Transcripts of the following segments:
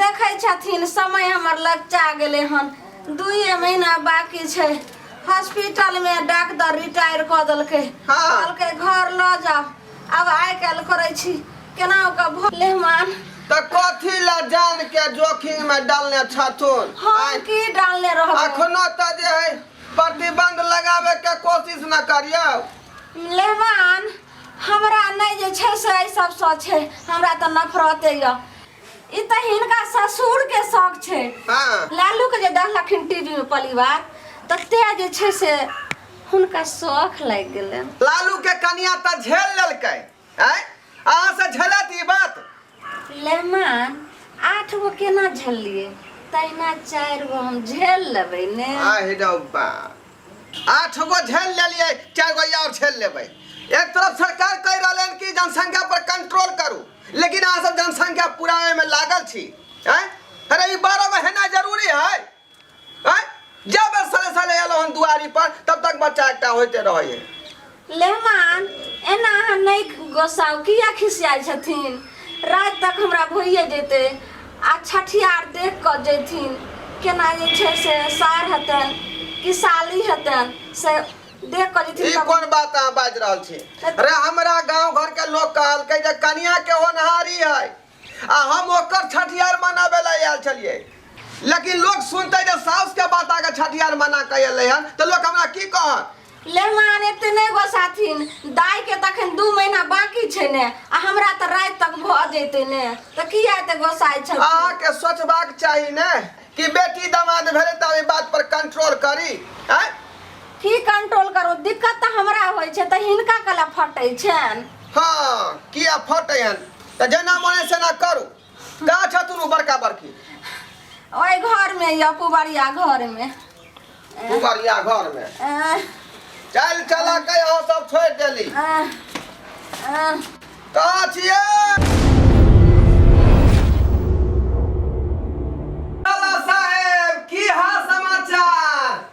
देखै छथिन समय हमर लगचा गेलै हन दुइए महीना बाकी छै हॉस्पिटलमे डॉक्टर रिटायर कऽ देलकै हँ। कहलकै घर लऽ जाओ अब आइ काल्हि करै छी केना ओकर भऽ मेहमान तऽ कथी लए जान के जोखिम में डालने छथुन हम आँय? की डालने रहबै अखनो तऽ जे है प्रतिबंध लगाबे के कोशिश न करियौ मेहमान हमरा नहि जे छै से एहि सबसँ छै हमरा तऽ नफरते यऽ ई तऽ हिनका ससुरके शौक छै हाँ लालूके जे देखलखिन टीवीमे परिवार तऽ ते जे छै से हुनका शौक लागि गेलनि लालू के कनिया तऽ झेल लेलकै आय अहाँ से झेलत ई बात सुलेमान आठ गो केना झेललिए तहिना चारि गो हम झेल लेबै ने आहि रौ बा आठ गो झेल लेलिए चारि गो और झेल लेबै एक तरफ सरकार कहि रहल हन कि जनसंख्या पर कंट्रोल करू लेकिन अहाँ सब जनसंख्या पुरावे में लागल छी हैं अरे ई बारह गो हेना जरूरी है आँय? जब बेर साले साले एलहुँ हन दुआरी पर तब तक बच्चा एकटा होइते रहै है लेहमान एना अहाँ नहि गोसाउ किया खिसियाइ छथिन राति तक हमरा भइए जेतै आ छठियार देख कऽ जेथिन केना जे छै से सार हेतनि कि साली हेतनि से देख कऽ ई जेथिन तब कोन बात अहाँ बाजि रहल छी रे हमरा गांव घर के लोग कहलकै जे कनिया के होनहारी है आ हम ओकर छठियार मनाबे ला आयल छलियै लेकिन लोग सुनते जे साउस के बात आके छठियार मना के अयलै हन तऽ लोग हमरा की कहत ले मान एते नहि गोसाथिन दाय के तऽ अखन दू महीना बाकी छै ने आ हमरा तऽ राति तक भऽ जेतै ने तऽ किया एते गोसाइ छल अहाँके सोचबाक चाही ने कि बेटी दामाद भेलै तऽ एहि बात पर कंट्रोल करी आँय? की कंट्रोल करू दिक्कत तऽ हमरा होइ छै तऽ हिनका कला फटै छनि हँ किया फटै हन तऽ जेना मने सेना करू का छथुन ओ बड़का बड़की ओहि घर में या पुबरिया घर में पुबरिया घर में चल चल के यहाँ सब छोड़ देली कहाँ छिए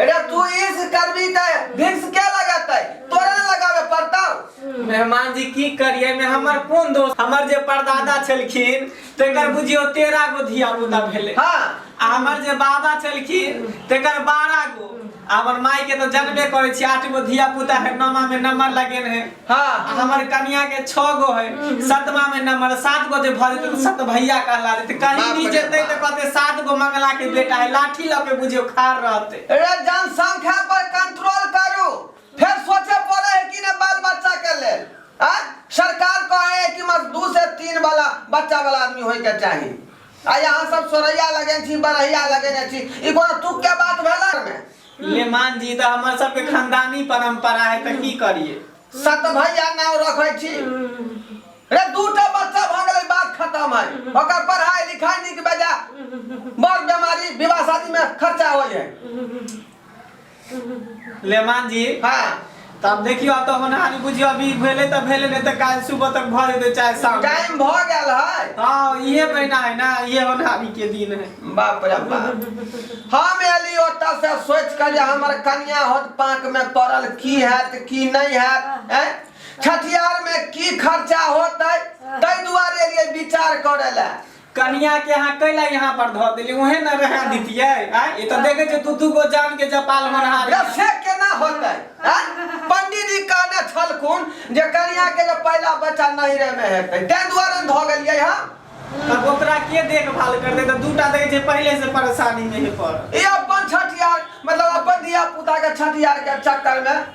अरे तू इस करबी त भिक्स के लगतै तोरा न लगावे पड़तौ मेहमान जी की करिए में हमर कोन दोस्त हमर जे परदादा छलखिन तेकर बुझियो तेरह गो धिया पुता भेले हां आ हमर जे बाबा छलखिन तेकर बारह गो आ हमर माई के तो जनबे करे छी आठ गो धिया पुता है नमा में नंबर लगेन है हाँ आ हमर कनिया के छो गो है सतमा में नंबर सात गो जे भर जेतै तऽ सत भैया कहला जेतै कहीं बाप भी रे जेतै तऽ बाप। कहते सात गो मंगला के बेटा है लाठी लऽ के बुझियो खाड़ रहते रे जनसंख्या पर कंट्रोल करू फिर सोचे पड़े है कि ने बाल बच्चा के लेल आ? सरकार कहे है कि बस दू से तीन वाला बच्चा वाला आदमी होय के चाही आ यहाँ सब सोरैया लगे छी बरैया लगे छी ई कोनो तुक के बात भेला में लेमान जी तऽ हमर सबके खानदानी परंपरा है तऽ की करिए सत भैया नाम रखे छी रे दूटा बच्चा भ गेलै बात खत्म है ओकर पढ़ाई लिखाई निक बेजा बड़ बीमारी विवाह शादी में खर्चा होय है लेमान जी हाँ तऽ आब देखियौ आब तऽ होनहारी बुझियौ अभी भेलै तऽ भेलै नहि तऽ काल्हि सुबह तक भऽ जेतै चाहे शाम टाइम भ गेल है हँ इहे महीना है ना इहे होनहारी के दिन है बाप रे बाप हम एली ओतऽ से सोचि कऽ जे हमर कनिया होत पाँक मे पड़ल की हैत की नहि हैत हैं छठियार मे की खर्चा होतै ताहि दुआरे एलियै विचार करै लए कनिया के अहाँ कैला यहाँ पर धऽ देली ओहे न रहा दितियै आ ई तऽ देखे छै दू दू गो जान के जपाल होनहार रे से केना होतै आँय? पंडीजी कहने छलखुन जे कनिया के जे पहिला बच्चा नैहरे में हेतै तै दुआरे ने धऽ गेलियै हँ तब ओकरा के देखभाल करते तऽ दूटा देखे छै पहिले से परेशानी में हे पर ई अपन छठियार मतलब अपन धिया पुता के छठियार के चक्कर में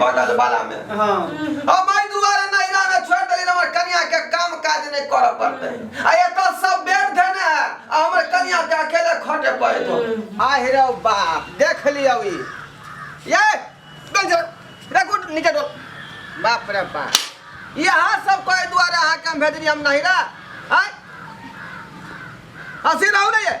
बनल वाला में हाँ अब मैं दुआरे नैरा में छोड़ देली हमर कन्या के काम काज नहीं कर पड़ते आ ये तो सब बेर धने है आ हमर कन्या के अकेले खटे पड़े तो आह रे बाप देख लियो ई ये डोल जा रे गुड नीचे डोल बाप रे बाप यहाँ सब कोई दुआरे अहाँ के हम भेजनी हम नहीं रे आय हंसी रहू नहीं है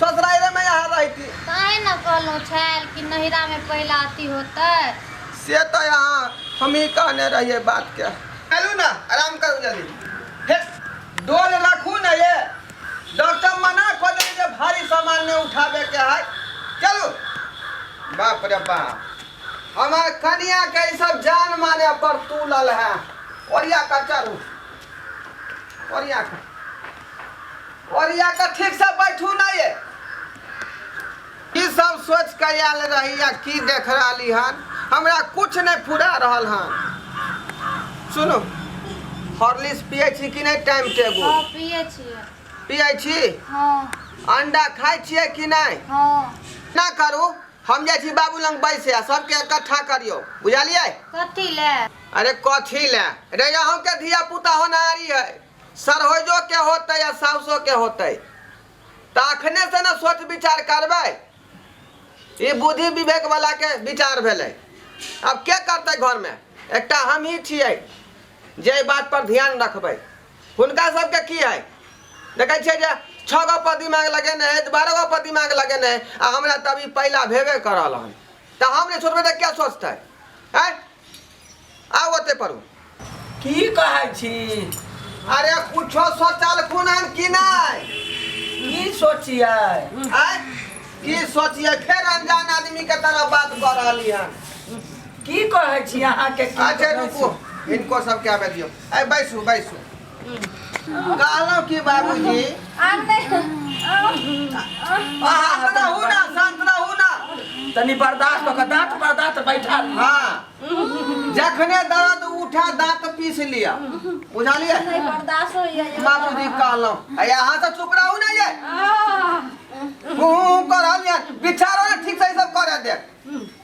ससुराइरे में यहाँ रहती। ताहि न कहलहुँ छल कि नहिरा में पहिला अति होतै। से त यहाँ हमहीं कहने रहियै बात के। चलू न आराम करू जल्दी। हे डोल रखू न ये। डॉक्टर मना क देलनि जे भारी सामान नै उठाबै के हय। चलू। बाप रे बाप। हमर कनिया के ई सब जान माने पर तुलल हैं। ओरिया क चढू। ओरिया क। ओरिया के ठीक से बैठू ना ये की सब सोच के आयल रही या की देख रही हन हमरा कुछ नहीं पूरा रहल हन सुनू हॉर्लिक्स पिए छी कि नहीं टाइम हाँ टेबुल पिए छिए पिए छी हाँ अंडा खाए छिए कि नहीं हाँ ना करू हम जाइ छी बाबू लग बैसे आ सबके इकट्ठा करियो बुझलियै कथी ले अरे कथी ले रे अहूँ के धिया पुता होनहारी है सरहोइजोके होतै आ साउसोके होतै तऽ अखनेसँ ने सोच विचार करबै ई बुद्धि विवेकवलाके विचार भेलै आब के करतै घरमे एकटा हमही छियै जे एहि बातपर ध्यान रखबै हुनका सभके की हइ देखै छियै जे छओ गो पर दिमाग लगेने है बारह गो पर दिमाग लगेने है आ हमरा तभी पहिला भेबे करल हन तऽ हम नहि छोड़बै तऽ क्या सोचतै आँय आउ ओते पर की कहै छी अरे कुछो सोचल खुन हम कि नहीं की सोचिए आय की सोचिए फिर अनजान आदमी के तरह बात कर रहली हन की कहै छी अहाँ के की अच्छा कहै छी? रुको इनको सब क्या दियो ए बैसू बैसू कहलहुँ कि बाबूजी आम नहि शान्त रहू ने शान्त रहू ने तनी बर्दाश्त कऽ के दाँत पर दाँत बैठा ली। हाँ जखने दर्द उठा दाँत पीस लिया बुझलिए नहि बर्दाश्त होइए यौ। बाबूजी कहलहुँ आ यहाँ से चुप रहू ने ये आह, हूँ हूँ करल ये बिछारो ने ठीक से ई सब करे दे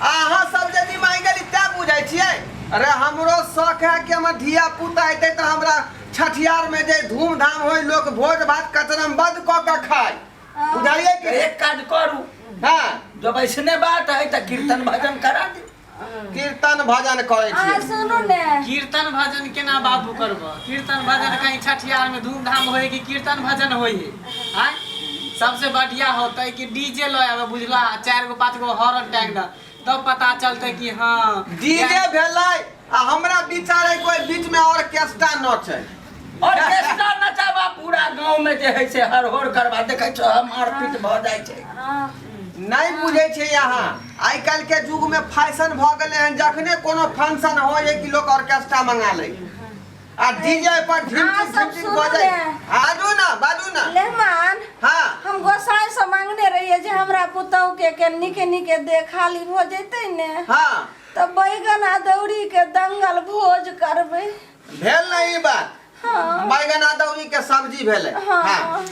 अहाँ सब जे जी मांगि गेली तै बुझै छियै अरे हमरो शौक है कि हमर धिया पुता हेतै तऽ हमरा छठियार में जे धूमधाम होय लोक भोज भात कचरमबद कऽ के खाय बुझलियै कि एक काज करू हाँ जब ऐसने बात है तऽ कीर्तन भजन करा दे कीर्तन भजन करै अहाँ छियै सुनू ने कीर्तन भजन केना बाबू करबह कीर्तन भजन कहीं छठियार में धूमधाम होय कि कीर्तन भजन होय आय सबसे बढ़िया होते कि डीजे लय आवे बुझला चार गो पांच गो हॉर्न टांग द तब पता चलते कि हां डीजे भेले आ हमरा विचार है कोई बीच में और केस्टा न छै और केस्टा न चाबा पूरा गांव में जे है से हर हर करवा देखे छ मारपीट भ जाय छै नहीं बुझे छै यहां आइ काल के युग में फैशन भ गेले हैं जखने कोनो फंक्शन हो जे कि लोग ऑर्केस्ट्रा मंगा ले आ डीजे पर झिम हाँ, झिम सब झिम सुनू बजे ने। आजू ना बाजू ना लेहमान हाँ हम गोसाई से मांगने रहिए जे हमरा पुतहु के के निके निके देखाली हो जैते ने हाँ तो बैगन आ दौरी के दंगल भोज करबे भेल ना ई बात हाँ बैगन अदौरी के सब्जी भेले हाँ। हाँ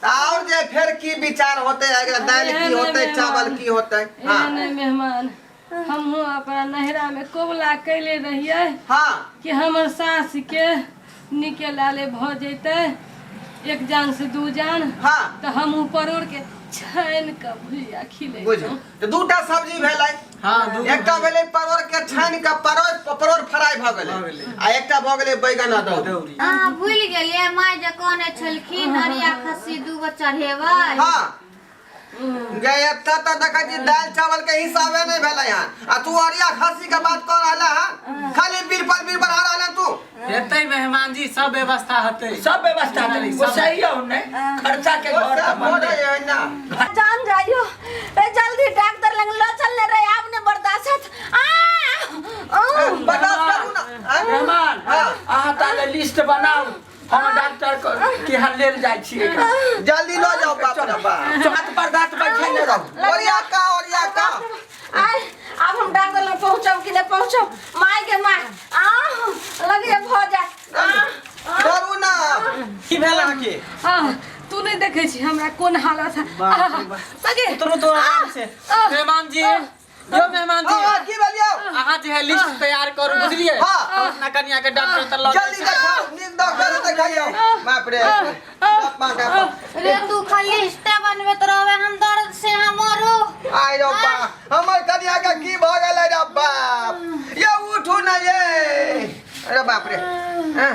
त और जे फिर की विचार होते अगर दाल की होते चावल की होते हाँ एहन मेहमान हमहूँ अपना नैहरामे कबुला कैले रहियै हाँ कि हमर सासके नीके लाले भऽ जैतै एक जान से दू जान हाँ तऽ हमहूँ परोड़के छानि कऽ भुजिया बुझ खिलैतहुँ तऽ दूटा सब्जी भेलै हाँ दू एकटा भेलै परोर के छानि के परोर परोर फ्राई भऽ गेलै भऽ गेलै। आ एकटा भऽ गेलै बैगन अदौरी दौरी अहाँ भूलि गेलियै माय जे कहने छलखिन हरिया खस्सी दूगो चढ़ेबै हाँ गए एतऽ तऽ देखै छी दालि चावल के हिसाबे नहि भेलै हन आ तू अरिया खस्सी के बात कऽ रहले हन खाली बीर पर बीर बढ़ा रहले हन तू हेतै मेहमान जी सब व्यवस्था हेतै सब व्यवस्था करी गोसाई हो ने खर्चा के घर ओते अपन बोले है ना जान जाइयो ए जल्दी डॉक्टर लग लो चल ले रे आप ने बर्दाश्त आ ओ बर्दाश्त करू ना आँय? मेहमान हाँ। अहाँ ताले लिस्ट बनाऊ हम डॉक्टर को के यहाँ लेल जाइ छियै एकरा। जल्दी लो जाओ बाप रे बाप हाथ पर दांत बैठे न रहो ओरिया का ओरिया का आय अब हम डांगल में पहुंचब कि नहीं पहुंचब माय के माय आ लगे भ जा आ, आ, करू ना की भेल अहाँ के आ, तू नहीं देखे छी हमरा कोन हालत है बाप रे बाप। लगे उतरू तो आराम से आ, मेहमान जी यो मेहमान जी हाँ, की भेल यौ? अहाँ जे है लिस्ट तैयार करू बुझलिए हाँ। हम अपना कनिया के डॉक्टर से लऽ जल्दी जाय छी। देखाउ, नीक डॉक्टर से देखाइयौ। बाप रे, बाप माँ का बाप। रे तू खाली रिश्ते बनबैत रहबे हम दर्द से हम मरू आय रौ बा, हमर कनिया के की भऽ गेलै रौ बाप? यौ, उठू ने ये। अरे बाप रे। एह,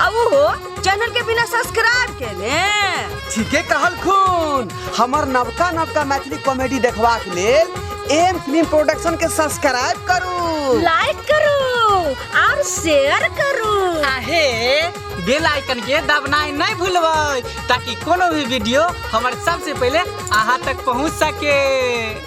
आ वो हो चैनल के बिना सब्सक्राइब के ने ठीके कहल खून हमर नवका नवका मैथिली कॉमेडी देखबाक लेल एम फिल्म प्रोडक्शन के सब्सक्राइब करू लाइक करू और शेयर करू आहे बेल आइकन के दबनाई नहीं भूलबै ताकि कोनो भी वीडियो हमर सबसे पहले अहाँ तक पहुँच सके